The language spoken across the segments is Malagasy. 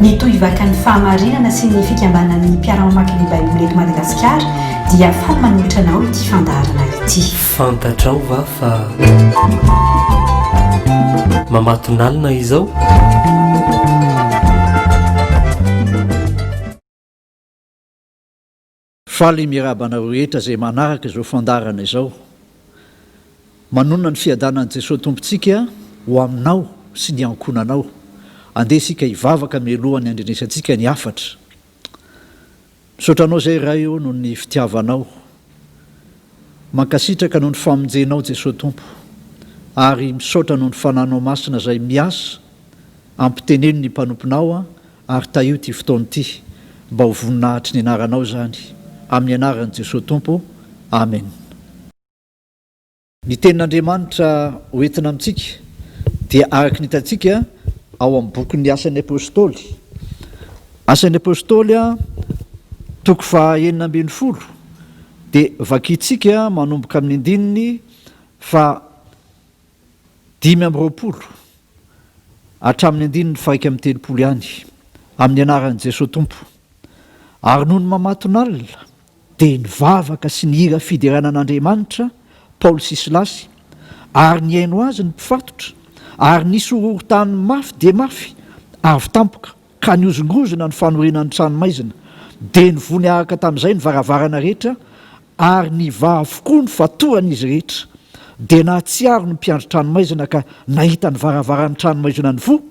Mitohy vaka ny fahamarinana sy ny fikambanan'ny mpiara-mamaky ny Baiboly eto Madagasikara dia faly manolotra anao ity fandaharana ity. Fantatrao va fa mamatonalina izao? Faly mirahaba anareo rehetra izay manaraka izao fandaharana izao. Manonona ny fiadanan'i Jesoa Tompontsika ho aminao sy ny ankohonanao. Andeha isika hivavaka mialoha ny handrenesantsika ny hafatra. Misaotra Anao izay Ray ô noho ny fitiavanao. Mankasitraka noho ny famonjenao Jesoa Tompo. Ary misaotra noho ny Fananao Masina izay miasa ampiteneno ny mpanomponao Ary tahio ity fotoana ity mba ho voninahitry ny anaranao izany, amin'ny anaran'i Jesoa Tompo, Amen. Ny tenin'Andriamanitra ho entina amintsika dia araka ny hitantsika ao amin'ny bokin'ny Asan'ny Apostoly, Asan'ny Apostoly, toko faha enina ambin'ny folo, dia vakintsika manomboka amin'ny andininy faha Dimy amby roapolo hatramin'ny andininy faha-iraika amby telopolo ihany, amin'ny anaran'i Jesoa Tompo. Ary nony mamatonalina, dia nivavaka sy nihira fiderana an'Andriamanitra Paoly sy Silasy, ary nihaino azy ny mpifatotra, ary nisy horohorontany mafy dia mafy avy tampoka, ka nihozongozona ny fanorina ny tranomaizina, dia nivony araka tamin'izay ny varavarana rehetra, ary nivaha avokoa ny fatohan'izy rehetra. Dia nahatsiaro ny mpiandry tranomaizina ka nahita ny varavaran'ny tranomaizina nivoha,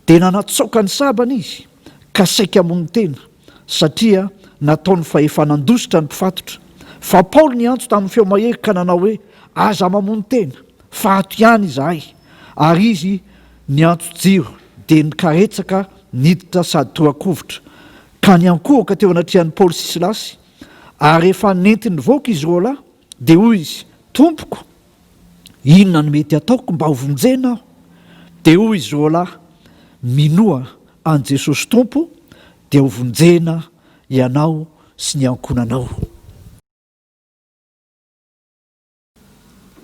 dia nanatsaoka ny sabany izy, ka saika hamono tena, satria nataony fa efa nandositra ny mpifatotra. Fa Paoly niantso tamin'ny feo mahery ka nanao hoe, Aza mamono tena! Faty ihany izahay ary izy niantso jiro dia nikaretsaka niditra sady torakovitra ka niankohoka teo anatrehan'i Paoly sy Silasy ary rehefa nentiny nivoaka izy roa lahy dia hoy izy, Tompoko, inona no mety ataoko mba ho vonjena aho? Dia hoy izy roa lahy, Minoa an'i Jesosy Tompo dia ho vonjena ianao sy ny ankohonanao.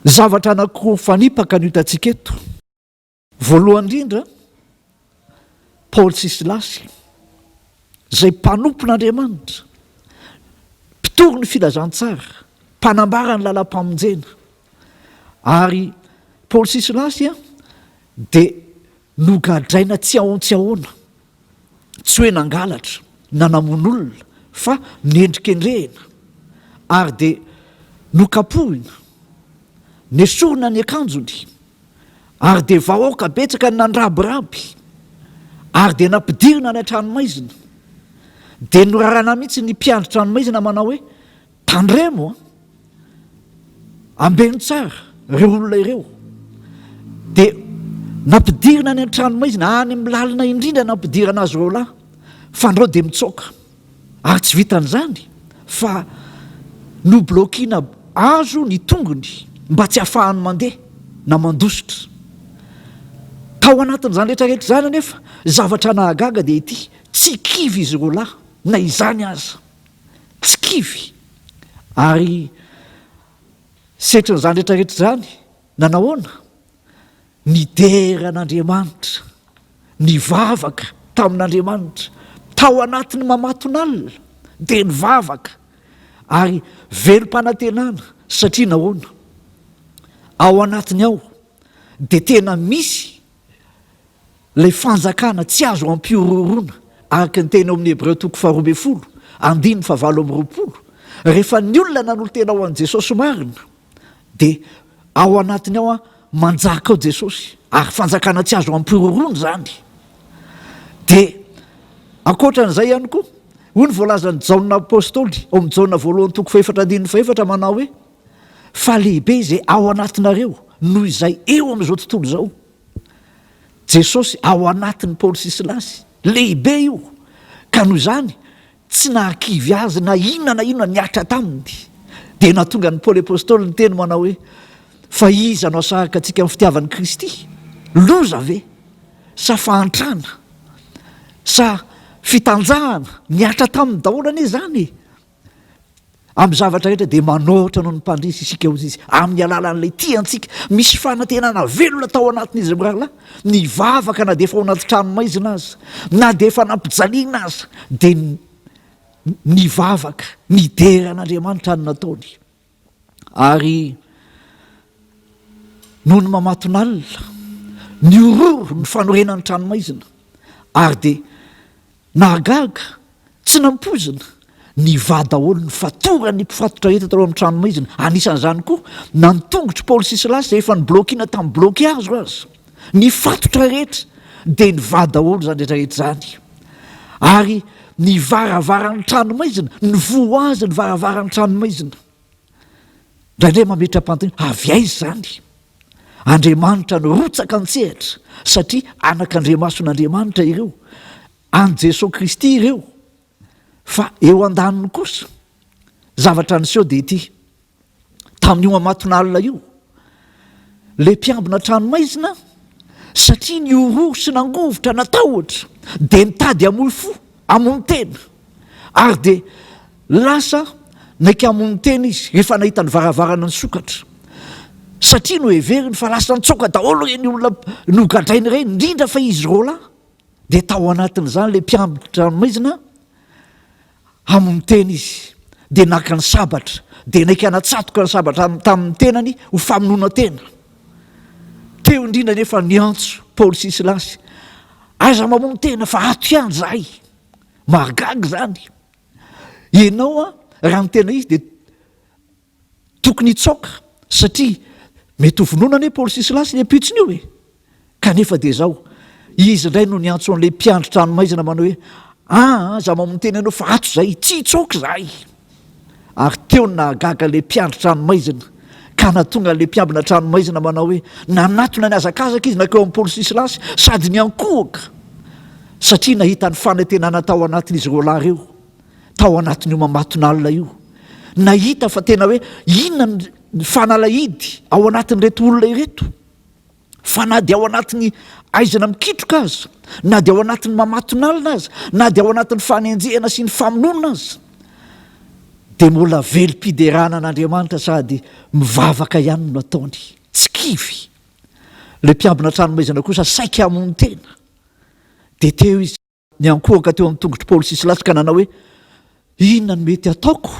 Zavatra anankiroa fanipaka no hitantsika eto. Voalohany indrindra, Paoly sy Silasy, izay mpanompon'Andriamanitra, mpitory ny filazantsara, mpanambara ny lalam-pamonjena. Ary Paoly sy Silasy dia nogadraina tsy ahoan-tsy ahoana. tsy hoe nangalatra na namono olona fa nendrikendrehina ary dia nokapohina, nesorina ny akanjony ary dia vahoaka betsaka ny nandrabiraby ary dia nampidirina any an-tranomaizina, dia norarana mihitsy ny mpiandry tranomaizina manao hoe Tandremo an! Ambeno tsara ireo olona ireo. Dia nampidirina any an-tranomaizina, any amin'ny lalina indrindra no nampidirana azy roa lahy. Fandrao dia mitsoaka. Ary tsy vitan'izany fa noblokiana hazo ny tongony mba tsy hahafahany mandeha na mandositra. Tao anatin'izany rehetra rehetra izany anefa, zavatra nahagaga dia ity, tsy kivy izy roa lahy na izany aza. tsy kivy ary setrin'izany rehetrarehetra izany nanahoana? nidera an'Andriamanitra, nivavaka tamin'Andriamanitra tao anatin'ny mamatonalina dia nivavaka ary velom-panantenana satria nahoana? ao anatiny ao dia tena misy Ilay fanjakana tsy azo ampihorohoroana, araka ny teny ao amin'ny Hebreo toko faharoa ambin'ny folo, andininy fahavalo amby roapolo. Rehefa ny olona nanolo-tena ho an'i Jesosy marina, dia ao anatiny ao manjaka ao Jesosy, ary fanjakana tsy azo ampihorohoroana izany. Dia ankoatra an'izay ihany koa, hoy ny voalazan'i Jaona Apostoly ao amin'ny Jaona voalohany toko fahefatra andininy fahefatra manao hoe, fa lehibe izay ao anatinareo noho izay eo amin'izao tontolo izao. Jesosy ao anatin'i Paoly sy Silasy. Lehibe io, ka noho izany tsy nahakivy azy na inona na inona nihatra taminy. Dia nahatonga an'i Paoly Apostoly niteny manao hoe, Fa iza no hasaraka antsika amin'ny fitiavan'i Kristy? Loza ve? Sa fahantrana? Sa fitanjahana? Nihatra taminy daholo anie izany e! Amin'ny zavatra rehetra dia manoatra noho ny Mpandresy isika hoy izy, amin'ny alalan'ilay tia antsika. Misy fanantenana velona tao anatin'izy ireo mirahalahy. Nivavaka na dia efa ao anaty tranomaizina aza, na dia efa nampijaliana aza, dia nivavaka, nidera an'Andriamanitra ny nataony. Ary nony mamatonalina, nihororo ny fanorenan'ny tranomaizina, ary dia nahagaga, tsy nampoizina, nivaha daholo ny fatoran'ny mpifatotra entana tao amin'ny tranomaizina, anisan'izany koa na ny tongotry Paoly sy Silasy izay efa noblaokiana tamin'ny blaokihazo aza. Ny fatotra rehetra dia nivaha daholo izany rehetra rehetra izany, ary ny varavaran'ny tranomaizina, nivoha azy ny varavaran'ny tranomaizina. Indraindray mametra-panontaniana, avy aiza izany? Andriamanitra nirotsaka an-tsehatra, satria anak'andriamason'Andriamanitra ireo, an'i Jesoa Kristy ireo, fa eo an-daniny kosa, zavatra niseho dia ity, tamin'io amatonalina io ilay mpiambina tranomaizina satria ny horohoro sy nangovitra natahotra dia nitady hamoy fo hamono tena ary dia lasa naika hamono tena izy rehefa nahita ny varavarana nisokatra satria noheveriny fa lasa nitsoaka daholo ireny olona nogadrainy ireny indrindra fa izy roalahy dia tao anatin'izany ilay mpiambina tranomaizina hamono tena izy, dia naka ny sabatra, dia naika natsatoka ny sabatra tamin'ny tenany ho famonoana tena. Teo indrindra anefa niantso Paoly sy Silasy, Aiza mamono tena fa ato ihany izahay. Mahagaga izany. Ianao raha ny tena izy dia Tokony hitsaoka satria mety ho vonoina anie Paoly sy Silasy le mpitsony io e! Kanefa dia izao, izy indray no niantso an'ilay mpiandry tranomaizina manao hoe, Aa, za mamo miteny anao fa ato izay, tsy hitsaoka izahay! Ary teo ny nahagaga ilay mpiandry tranomaizina ka nahatonga an'ilay mpiambina tranomaizina manao hoe, Nanatona nihazakazaka izy nankeo amin'i Paoly sy Silasy sady niankohoka satria nahita ny fanantenana tao anatin'izy roalahy ireo. tao anatin'io mamatonalina io, nahita fa tena hoe inona ny fanalahidy ao anatin'ireto olona ireto, fa na dia ao anatin'ny aizina mikitroka aza, na dia ao anatin'ny mamatonalina aza, na dia ao anatin'ny fanenjehana sy ny famonoana aza, dia mbola velom-piderana an'Andriamanitra sady mivavaka ihany no ataony, tsy kivy. Ilay mpiambina tranomaizina kosa saika hamono tena, dia teo izy. Niankohoka teo amin'ny tongotr'i Paoly sy Silasy ka nanao hoe, Inona no mety hataoko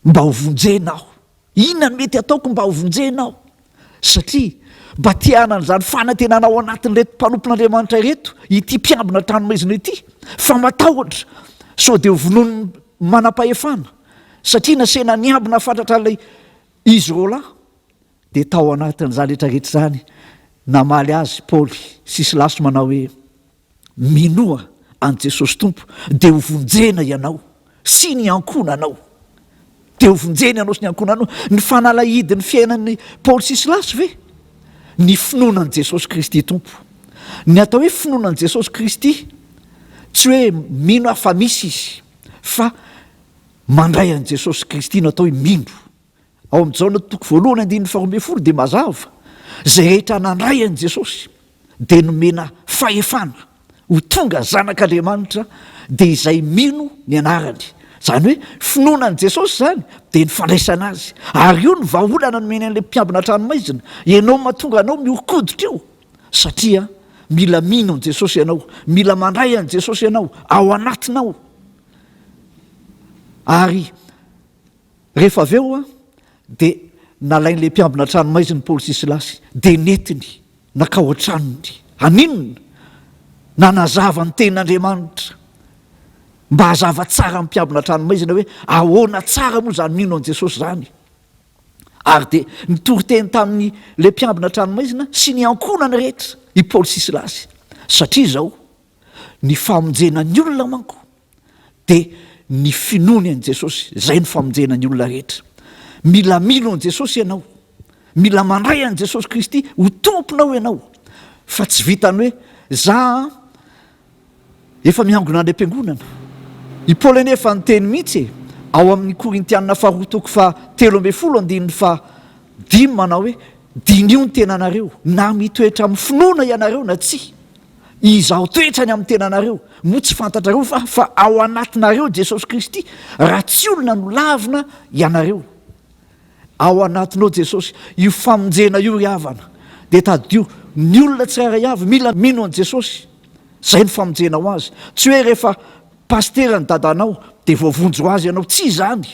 mba ho vonjena aho? Inona no mety hataoko mba ho vonjena aho? Satria mba te hanana izany fanantenana ao anatin'ireto mpanompon'Andriamanitra ireto ity mpiambina trano maizina ity, fa matahotra sao dia hovonoin'ny manam-pahefana. Satria nasehina niambina fatratra ilay izy roalahy, dia tao anatin'izany rehetrarehetra izany, namaly azy Paoly sy Silasy manao hoe, Minoa an'i Jesosy Tompo dia ho vonjena ianao sy ny ankohonanao. Dia ho vonjena ianao sy ny ankohonanao. Ny fanalahidin'ny fiainan'i Paoly sy Silasy ve? Ny finoana an'i Jesosy Kristy Tompo. Ny atao hoe finoana an'i Jesosy Kristy, tsy hoe mino aho fa misy Izy, fa mandray an'i Jesosy Kristy no atao hoe mino. Ao amin'i Jaona toko voalohany andininy faharoa ambin'ny folo dia mazava, Izay rehetra nandray an'i Jesosy dia nomena fahefana ho tonga zanak'Andriamanitra, dia izay mino ny anarany. Izany hoe finoana an'i Jesosy izany dia ny fandraisana Azy. Ary io no vahaolana nomeny an'ilay mpiambina an-tranomaizina, Ianao mahatonga anao mihoron-koditra io, satria mila mino an'i Jesosy ianao, mila mandray an'i Jesosy ianao ao anatinao, ary Rehefa avy eo dia nalain'ilay mpiambina an-tranomaiziny Paoly sy Silasy, dia nentiny nankao an-tranony. Haninona? Nanazava ny Tenin'Andriamanitra mba hazava tsara amin'ny mpiambina an-tranomaizina hoe ahoana tsara moa izany mino an'i Jesosy izany. Ary dia nitory teny tamin'ilay mpiambina an-tranomaizina sy ny ankohonany rehetra i Paoly sy Silasy. Satria izao, ny famonjena ny olona manko dia ny finoany an'i Jesosy, izay no famonjena ny olona rehetra. Mila mino an'i Jesosy ianao, mila mandray an'i Jesosy Kristy ho Tomponao ianao, fa tsy vitan'ny hoe za efa miangona any am-piangonana. I Paoly anie efa niteny mihitsy e, ao amin'ny Korintiana faharoa toko faha telo ambin'ny folo andininy faha dimy manao hoe, Diniho ny tenanareo, na mitoetra amin'ny finoana ianareo na tsia. Izaho toetra ny amin'ny tenanareo. Moa tsy fantatrareo va fa ao anatinareo Jesosy Kristy, raha tsy olona no lavina ianareo? Ao anatinao Jesosy. Io famonjena io ry havana, dia tadidio, ny olona tsirairay avy mila mino an'i Jesosy. Izay no famonjena ho azy. Tsy hoe rehefa pasitera ny dadanao dia voavonjy ho azy ianao. Tsy izany.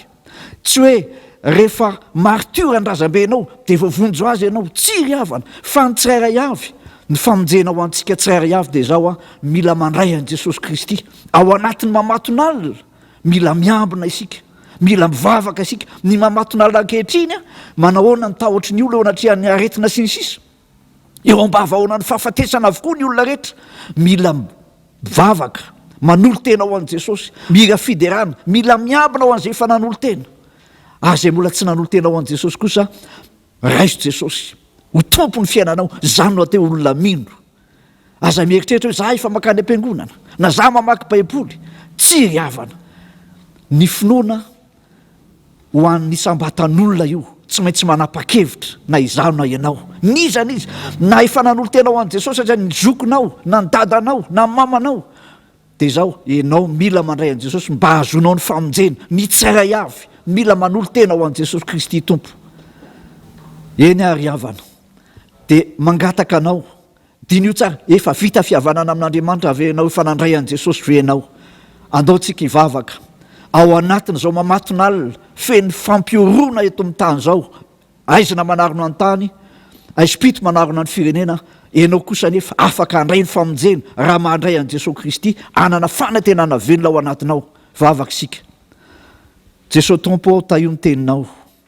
Tsy hoe rehefa maritiora ny razambe anao dia voavonjy azy ianao, tsia ry havana, fa ny tsirairay avy, ny famonjena ho antsika tsirairay avy dia izao an, mila mandray an'i Jesosy Kristy ao anatin'ny mamatonalina, mila miambina isika, mila mivavaka isika, ny mamatonalina ankehitriny an, manahoana ny tahotry ny olona eo anatrehan'ny aretina sy ny sisa, Eo ambavahaonan'ny fahafatesana avokoa ny olona rehetra. Mila mivavaka, manolo-tena ho an'i Jesosy, mira fiderana, mila miambina ho an'izay efa nanolo-tena. Ary izay mbola tsy nanolo-tena ho an'i Jesosy kosa, raiso Jesosy ho Tompon'ny fiainanao, izany no atao hoe olona mino. Aza mieritreritra hoe, za efa mankany am-piangonana, na za mamaky Baiboly. Tsy ry havana. Ny finoana Ho an'ny isam-batan'olona io, tsy maintsy manapa-kevitra na izaho na ianao. N'iza n'iza, na efa nanolo-tena ho an'i Jesosy aza ny zokinao, na ny dadanao, na ny mamanao, dia izao, ianao mila mandray an'i Jesosy mba hahazoanao ny famonjena. Ny tsirairay avy mila manolo-tena ho an'i Jesosy Kristy Tompo. Eny àry havana, dia mangataka anao Diniho tsara, efa vita fihavanana amin'Andriamanitra ve ianao? Efa nandray an'i Jesosy ve ianao? Andao tsika hivavaka. Ao anatin'izao mamatonalina feno fampihoroana eto amin'ny tany izao, aizina manarona ny tany, aizim-pito manarona ny firenena, ianao kosa anefa afaka handray ny famonjena raha mahandray an'i Jesosy Kristy, hanana fanantenana velona ao anatinao. Vavaka isika. Jesosy Tompo ô, tahio ny teninao.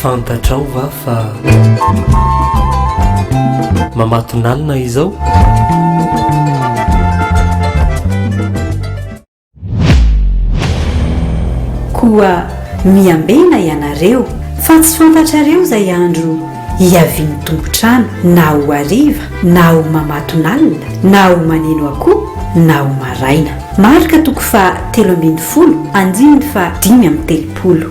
Fantatrao va fa mamatonalina izao? Koa miambena ianareo fa tsy fantatrareo izay andro hiavian'ny tompon-trano na ho hariva na ho mamatonalina na ho maneno akoho na ho maraina. Marka toko faha telo ambin'ny folo andininy faha dimy amby telopolo.